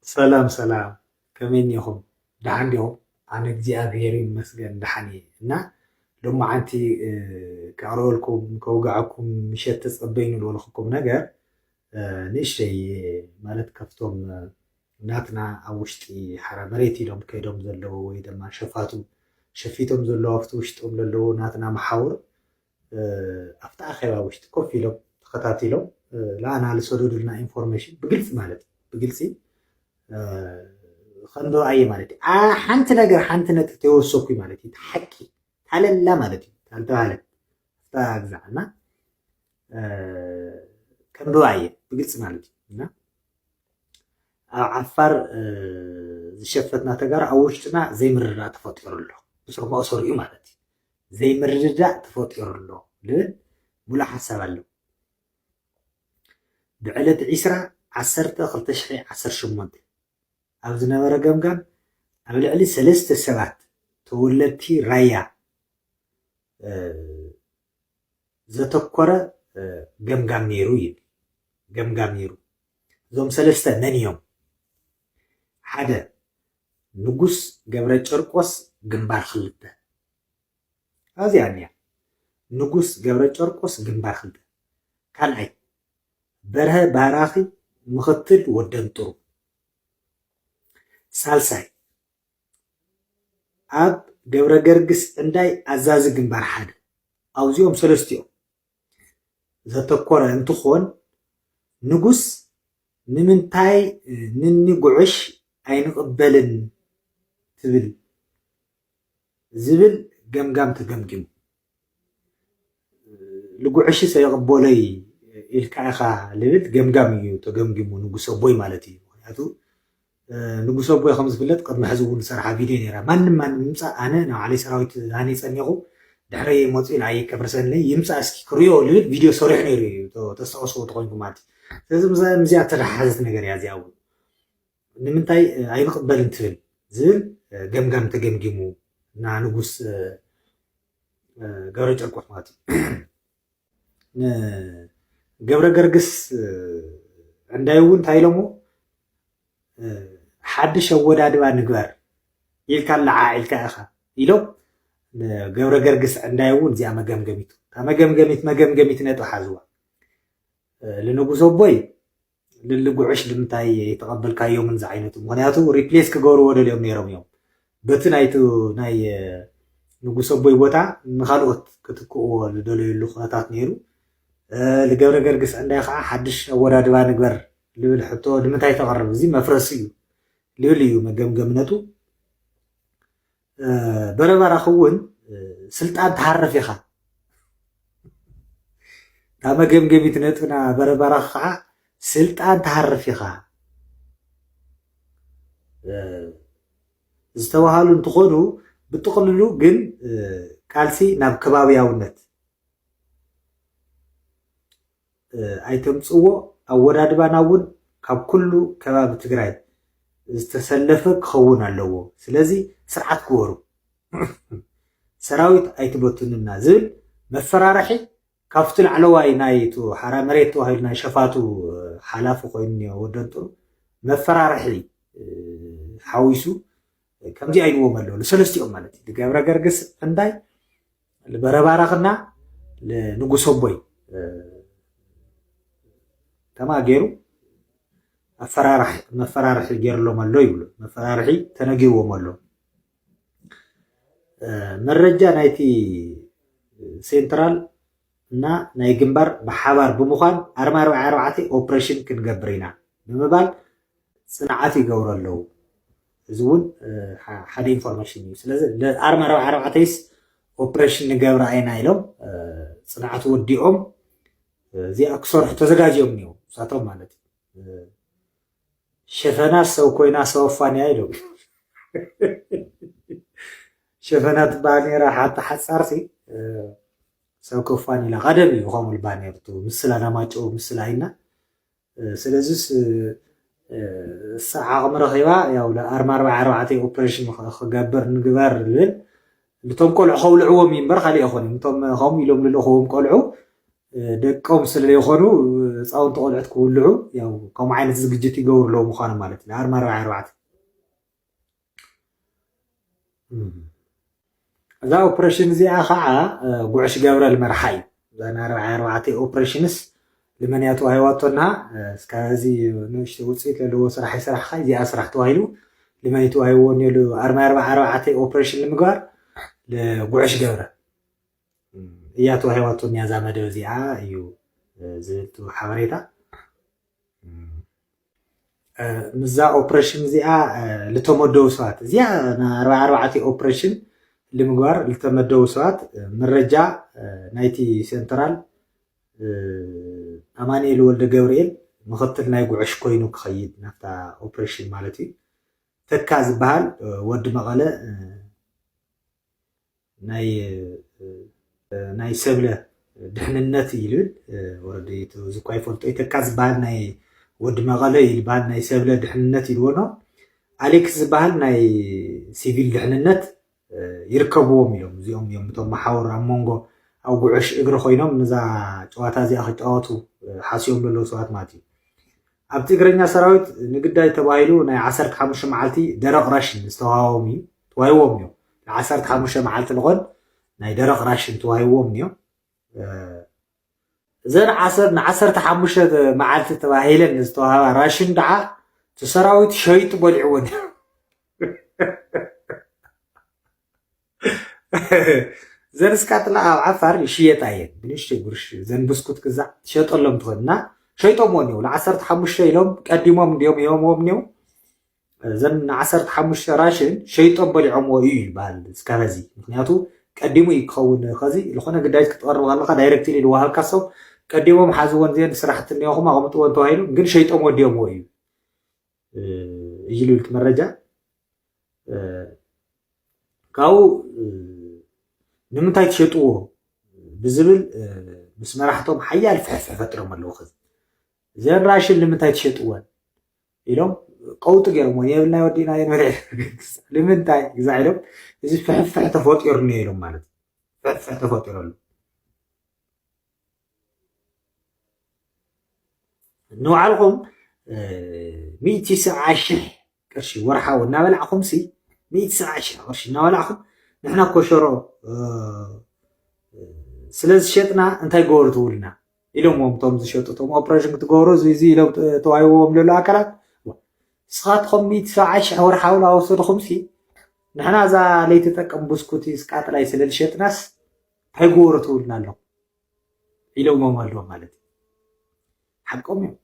ሰላም ሰላም ከመይ እኒኹም ደሓን ዲኹም ኣነ እግዚኣብሔር ይመስገን ደሓን እየ እና ሎማዓንቲ ከቕርበልኩም ከውግዐኩም ምሸት ተጸበይኑ ዝበልኹኩም ነገር ንእሽተይ ማለት ከፍቶም ናትና ኣብ ውሽጢ ሓራ መሬት ኢሎም ከይዶም ዘለዉ ወይ ድማ ሸፋቱ ሸፊቶም ዘለዉ ኣብቲ ውሽጦም ዘለዉ ናትና መሓውር ኣብቲ ኣኼባ ውሽጢ ኮፍ ኢሎም ተኸታቲሎም ለኣና ልሰደዱልና ኢንፎርሜሽን ብግልፂ ማለት ብግልፂ ከንዶ ኣየ ማለት እዩ ሓንቲ ነገር ሓንቲ ነጥብ ተወሰኩ ማለት እዩ ሓቂ ታለላ ማለት እዩ ታልተባሃለ ፍታ ግዛዕና ከንዶ ኣየ ብግልፂ ማለት እዩ እና ኣብ ዓፋር ዝሸፈትና ተጋሩ ኣብ ውሽጥና ዘይምርዳእ ተፈጢሩ ኣሎ ብስሩ መእሰሩ እዩ ማለት እዩ ዘይምርድዳእ ተፈጢሩ ኣሎ ልብል ሙሉእ ሓሳብ ኣለዎ። ብዕለት ዕስራ ዓሰርተ ክልተ ሽሕ ዓሰርተ ሸሞንተ ኣብ ዝነበረ ገምጋም ኣብ ልዕሊ ሰለስተ ሰባት ተወለድቲ ራያ ዘተኮረ ገምጋም ነይሩ ይብል። ገምጋም ነይሩ እዞም ሰለስተ መን እዮም? ሓደ ንጉስ ገብረጨርቆስ ግንባር ክልተ ኣዚያ እንያ ንጉስ ገብረጨርቆስ ግንባር ክልተ ካልኣይ በርሀ ባራኺ ምኽትል ወደንጥሩ ሳልሳይ ኣብ ገብረገርግስ እንዳይ ኣዛዚ ግንባር ሓደ ኣውዚኦም ሰለስቲኦም ዘተኮረ እንትኾን ንጉስ ንምንታይ ንኒ ጉዕሽ ኣይንቕበልን ትብል ዝብል ገምጋም ተገምጊሙ ልጉዕሽስ ኣይቕበሎይ ኢልካ ኢኻ ልብል ገምጋም እዩ ተገምጊሙ ንጉሰ ቦይ ማለት እዩ ምክንያቱ ንጉስ ኣቦይ ከም ዝፍለጥ ቅድሚ ሕዚ እውን ዝሰርሓ ቪድዮ ነይራ ማንም ማንም ይምፃእ ኣነ ናይ ባዕለይ ሰራዊት ሃኒፀ እኒኹ ድሕረይ መፅኡ ንዓይ ከፍርሰኒ ይምፃእ እስኪ ክሪኦ ልብል ቪድዮ ሰሪሑ ነይሩ እዩ ተስታውስዎ ተኮይንኩም ማለት እዩ ስለዚ ምስዚኣ ተተሓሓዘት ነገር እያ እዚኣ እውን ንምንታይ ኣይንቕበልን ትብል ዝብል ገምጋም ተገምጊሙ እና ንጉስ ገብረ ጨርቆስ ማለት እዩ ገብረ ገርግስ ዕንዳይ እውን እንታይ ኢሎሞ ሓድሽ ኣወዳድባ ንግበር ኢልካ ለዓዒልካ ኢኻ ኢሎም ገብረ ገርግስ ዕንዳይ እውን እዚኣ መገምገሚቱ እታ መገምገሚት መገምገሚት ነጥቢ ሓዝዋ ልንጉሶ ኣቦይ ልሊ ጉዕሽ ልምንታይ ኣይተቀበልካዮምን ዝዓይነቱ ምክንያቱ ሪፕሌስ ክገብርዎ ደልዮም ነይሮም እዮም በቲ ናይቲ ናይ ንጉስ ኣቦይ ቦታ ንካልኦት ክትክእዎ ዝደለየሉ ኩነታት ነይሩ ልገብረ ገርግስ ዕንዳይ ከዓ ሓድሽ ኣወዳድባ ንግበር ልብል ሕቶ ንምንታይ ተቅርብ እዚ መፍረሲ እዩ ልብል እዩ መገምገምነቱ በረበራ ክውን ስልጣን ትሃርፍ ኢኻ እታ መገምገሚት ነጥብና በረበራ ከዓ ስልጣን ትሃርፍ ኢኻ ዝተባሃሉ እንትኾኑ ብጥቕልሉ ግን ቃልሲ ናብ ከባቢያውነት ኣይተምፅዎ ኣወዳድባና እውን ካብ ኩሉ ከባቢ ትግራይ ዝተሰለፈ ክኸውን ኣለዎ ስለዚ ስርዓት ግበሩ ሰራዊት ኣይትበትኑና ዝብል መፈራርሒ ካብቲ ላዕለዋይ ናይ እቱ ሓራ መሬት ተባሂሉ ናይ ሸፋቱ ሓላፊ ኮይኑ ወደንጥሩ መፈራርሒ ሓዊሱ ከምዚኣ ኢልዎም ኣለዉ ንሰለስቲኦም ማለት እዩ ንገብረ ገርግስ እንዳይ ንበረባራኽና ንንጉሶ ቦይ ከማ ገይሩ መፈራርሒ ገይርሎም ኣሎ ይብሉ መፈራርሒ ተነጊዎም ኣሎ መረጃ ናይቲ ሴንትራል እና ናይ ግንባር ብሓባር ብምዃን ኣርማ ኣርባዕተ ኦፕሬሽን ክንገብር ኢና ብምባል ፅንዓት ይገብሩ ኣለዉ እዚ እውን ሓደ ኢንፎርሜሽን እዩ ስለዚ ኣርማ ኣርብዓ ኣርባዕተይስ ኦፕሬሽን ንገብር ኣይና ኢሎም ፅንዓት ወዲኦም እዚኣ ክሰርሑ ተዘጋጅዮም እኒው እሳቶም ማለት እዩ ሸፈና ሰው ኮይና ሰው ኣፋንያ ኢሎም ሸፈና ትበሃል ነራ ሓንቲ ሓፃርሲ ሰው ከፋን ኢላ ቀደም እዩ ከምኡ ባኔርቱ ምስላ ናማጨው ምስላ ኢልና ስለዚስ እሳ ዓቕሚ ረኺባ ያው ኣርማ ኣርባዓ ኣርባዕተ ኦፕሬሽን ክገብር ንግበር ዝብል ንቶም ቆልዑ ከውልዕዎም እዩ እምበር ካልእ ኣይኮነን እቶም ከምኡ ኢሎም ልለኽዎም ቆልዑ ደቆም ስለዘይኮኑ ህፃውንቲ ቆልዑት ክውልዑ ከምኡ ዓይነት ዝግጅት ይገብሩ ኣለዉ ምዃኖም ማለት እዩ ኣርማ ኣርባዓ ኣርባዕተ እዛ ኦፕሬሽን እዚኣ ከዓ ጉዕሽ ገብረ ልመርሓ እዩ እዛ ናርባዓ ኣርባዕተ ኦፕሬሽንስ ልመንያ ተዋሂዋቶና እስካ እዚ ንእሽተ ውፅኢት ዘለዎ ስራሕ ይስራሕካ እዚኣ ስራሕ ተዋሂሉ ልመን ተዋሂዎ ኔሉ ኣርማ ኣርባዓ ኣርባዕተ ኦፕሬሽን ንምግባር ጉዕሽ ገብረ እያ ተዋሂዋቶኒያ እዛ መደብ እዚኣ እዩ ዝብል ሓበሬታ ምዛ ኦፕሬሽን እዚኣ ዝተመደቡ ሰባት እዚኣ ኣርባዓ ኣርባዕተ ኦፕሬሽን ንምግባር ዝተመደቡ ሰባት መረጃ ናይቲ ሴንትራል ኣማኒኤል ወልደ ገብርኤል ምክትል ናይ ጉዕሽ ኮይኑ ክኸይድ ናብታ ኦፕሬሽን ማለት እዩ ተካ ዝበሃል ወዲ መቐለ ናይ ሰብለ ድሕንነት እዩ ልብል ወረዲ እዚ እኳ ይፈልጦ ይተካ ዝበሃል ናይ ወዲ መቐለ እዩ ዝበሃል ናይ ሰብለ ድሕንነት ኢልዎ ኖ ኣሌክስ ዝበሃል ናይ ሲቪል ድሕንነት ይርከብዎም ኢሎም እዚኦም እዮም እቶም መሓውር ኣብ መንጎ ኣብ ጉዕሽ እግሪ ኮይኖም ነዛ ጨዋታ እዚኣ ክጫወቱ ሓስዮም ዘለዉ ሰባት ማለት እዩ ኣብቲ እግረኛ ሰራዊት ንግዳይ ተባሂሉ ናይ ዓሰርተ ሓሙሽተ መዓልቲ ደረቕ ራሽን ዝተዋህቦም እዩ ተዋሂቦም እዮም ንዓሰርተ ሓሙሽተ መዓልቲ ልኾን ናይ ደረቕ ራሽን ተዋሂቦም እዮም እዘን ዓሰር ንዓሰርተ ሓሙሽተ መዓልቲ ተባሂለን ዝተዋህባ ራሽን ደዓ እቲ ሰራዊት ሸይጡ በሊዕዎን እዩ ዘን እስካትላ ኣብ ዓፋር ይሽየጣ እየን ብንእሽተይ ጉርሽ ዘን ብስኩት ግዛዕ ትሸጠሎም ትኾን እና ሸይጦምዎ እኒው ንዓሰርተ ሓሙሽተ ኢሎም ቀዲሞም እንዲዮም ሂቦምዎም እኒው ዘን ንዓሰርተ ሓሙሽተ ራሽን ሸይጦም በሊዖምዎ እዩ ይበሃል እስካብ ሕዚ ምክንያቱ ቀዲሙ እዩ ክኸውን ከዚ ዝኾነ ግዳጅ ክትቐርብ ከለካ ዳይሬክትሊ ዝወሃብካ ሰብ ቀዲሞም ሓዝወን እዚአን ስራሕቲ እኒኦኹም ኣቕምጥወን ተባሂሉ ግን ሸይጦም ወዲኦምዎ እዩ እዩ ልብል መረጃ ካብኡ ንምንታይ ትሸጥዎ ብዝብል ምስ መራሕቶም ሓያል ፍሕፍሕ ፈጥሮም ኣለዉ ከዚ እዘን ራሽን ንምንታይ ትሸጥወን ኢሎም ቀውጢ ገይሮሞ የብልናይ ወዲእና የንበረ ንምንታይ ግዛ ኢሎም እዚ ፍሕፍሕ ተፈጢሩ ነይሮም ማለት ፍሕፍሕ ተፈጢሩ ኣሎ ንባዕልኹም ሚእቲ ሰብዓ ሽሕ ቅርሺ ወርሓዊ እናበላዕኹም ሲ ሚእቲ ሰብዓ ሽሕ ቅርሺ እናበላዕኹም ንሕና ኮሸሮ ስለ ዝሸጥና እንታይ ገበሩ ትብሉና ኢሎምዎም እቶም ዝሸጡ እቶም ኦፕሬሽን ክትገብሩ እዚ ኢሎም ተዋሂቦም ዘሎ ኣካላት ንስኻትኩም ሚእቲ ሰብዓ ሽሕ ወርሓዊ እናወሰድኹም ሲ ንሕና እዛ ለይተጠቀም ብስኩቲ ስቃጥላይ ስለ ዝሸጥናስ እንታይ ጎበሮ ትብሉና ኣለኹም ኢሎሞም ኣለዉ ማለት እዩ ሓቆም እዮም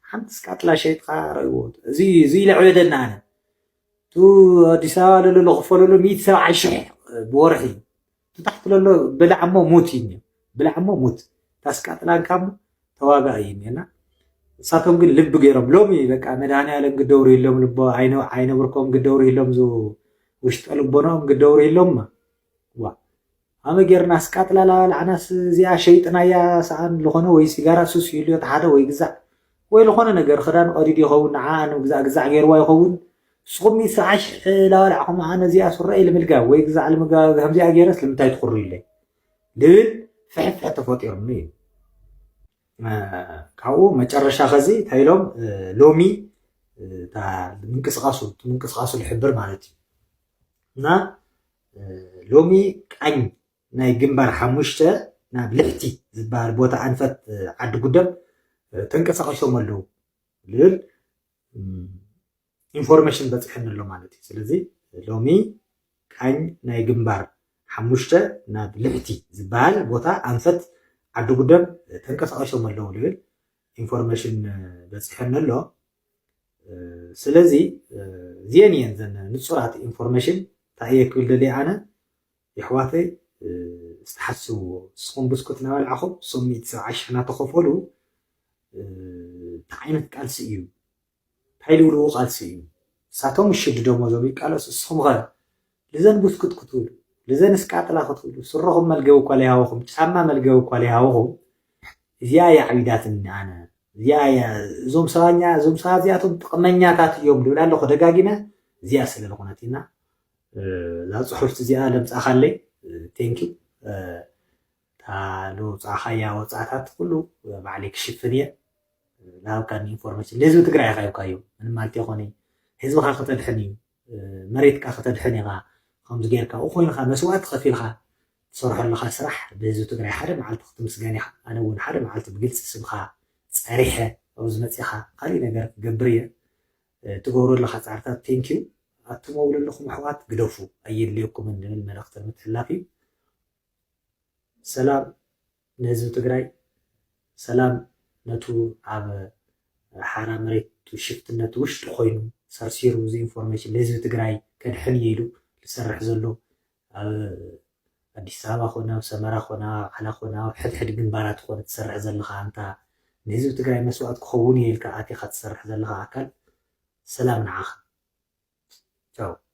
ሓንቲ ስካ ጥላሸይጥካ ረእዎ እዚ እዚ ለዕበደና ኣነ ቱ ኣዲስ ኣበባ ለሎ ክፈለሉ ሚእቲ ሰብዓይ ሽሕ ብወርሒ ቱ ታሕቲ ለሎ ብላዕሞ ሙት እዩ እኒኦ ብላዕሞ ሙት ታስካ ጥላንካ እሞ ተዋጋ እዩ እኒኦና እሳቶም ግን ልቢ ገይሮም ሎሚ በቃ መድሃኒኣለም ግደውሩ ይሎም ልቦ ኣይነብርኮም ግደውሩ ይሎም ውሽጠ ልቦናኦም ግደውሩ ይሎምማ ዋእ ሃመ ጌርናስ ቃጥላላ ኣልዓናስ እዚኣ ሸይጥና እያ ሰኣን ልኾነ ወይ ሲጋራ ሱስ ይህልዮ ተሓደ ወይ ግዛዕ ወይ ልኾነ ነገር ኽዳን ቐዲዱ ይኸውን ንዓኣ ንምግዛእ ግዛዕ ጌርዋ ይኸውን ንስኹም ሰዓ ሽሕ ላበላዕኹምኣ ነዚኣ ሱረኤ ልምልጋ ወይ ግዛዕ ልምጋ ከምዚኣ ጌረስ ልምንታይ ትኹርዩለይ ልብል ፍሕፍሕ ተፈጢሩኒ እዩ ካብኡ መጨረሻ ኸዚ እንታይ ኢሎም ሎሚ ምንቅስቃሱ ምንቅስቃሱ ልሕብር ማለት እዩ እና ሎሚ ቃኝ ናይ ግንባር ሓሙሽተ ናብ ልሕቲ ዝበሃል ቦታ ኣንፈት ዓዲ ጉደም ተንቀሳቂሶም ኣለዉ ዝብል ኢንፎርሜሽን በፂሐኒ ኣሎ ማለት እዩ ስለዚ ሎሚ ቃኝ ናይ ግንባር ሓሙሽተ ናብ ልሕቲ ዝበሃል ቦታ ኣንፈት ዓዲ ጉደም ተንቀሳቂሶም ኣለዉ ዝብል ኢንፎርሜሽን በፂሐኒ ኣሎ ስለዚ እዚአን እየን ዘን ንፁራት ኢንፎርሜሽን እንታይ እየ ክብል ደልየ ኣነ የሕዋተይ ዝተሓስብዎ ንስኹም ብስኩት እናበልዓኹም እሶም ሚእቲ ሰብዓይ ሽሕ እናተኸፈሉ እንታይ ዓይነት ቃልሲ እዩ እንታይ ዝብልዎ ቃልሲ እዩ ንሳቶም እሽድዶሞ ዞም ይቃለሱ ንስኹም ኸ ልዘን ቡስኩት ክትብሉ፣ ልዘንስ ቃጥላ ክትብሉ፣ ስረኹም መልገቢ እኳ ለይሃቡኹም፣ ጫማ መልገቢ እኳ ለይሃቡኹም፣ እዚኣ እያ ዓቢዳትኒ ኣነ፣ እዚኣ እያ፣ እዞም ሰባኛ፣ እዞም ሰባት እዚኣቶም ጥቕመኛታት እዮም ልብል ኣለኹ ደጋጊመ፣ እዚኣ ስለ ልኾነት ኢና፣ እዛ ጽሑፍቲ እዚኣ ለምጻኻለይ፣ ቴንኪው፣ እታ ለውጻኻያ ወጻእታት ኩሉ ባዕለይ ክሽፍን እየ፣ ዝሃብካኒ ኢንፎርሜሽን ልህዝቢ ትግራይ ኢኻ ሂብካዮ፣ ምንም ማለት ኣይኮነይ፣ ህዝብኻ ከተድሕን እዩ፣ መሬትካ ከተድሕን ኢኻ ኸምዚ ጌርካ ኣብኡ ኮይንኻ መስዋእቲ ኸፊልኻ ትሰርሖ ኣለኻ ስራሕ ብህዝቢ ትግራይ ሓደ መዓልቲ ክትምስገን ኢኻ ኣነ እውን ሓደ መዓልቲ ብግልፂ ስምኻ ፀሪሐ ኣብዚ መፂእኻ ካሊእ ነገር ክገብር እየ እትገብሮ ዘለኻ ፃዕርታት ቴንክ ዩ ኣትመው ዘለኹም ኣሕዋት ግደፉ ኣየድልየኩምን ዝብል መልእኽቲ ንምትሕላፍ እዩ ሰላም ንህዝቢ ትግራይ ሰላም ነቱ ኣብ ሓራ መሬት ሽፍትነት ውሽጢ ኮይኑ ሰርሲሩ እዚ ኢንፎርሜሽን ንህዝቢ ትግራይ ከድሕን እየ ኢሉ ዝሰርሕ ዘሎ ኣብ ኣዲስ ኣበባ ኮነ ኣብ ሰመራ ኮነ ኣብ ኣምሓላ ኮነ ኣብ ሕድሕድ ግንባራት ኮነ ትሰርሕ ዘለኻ ኣንታ ንህዝቢ ትግራይ መስዋእት ክኸውን እየ ኢልካ ኣቲኻ ትሰርሕ ዘለኻ ኣካል ሰላም ንዓኻ ቻው።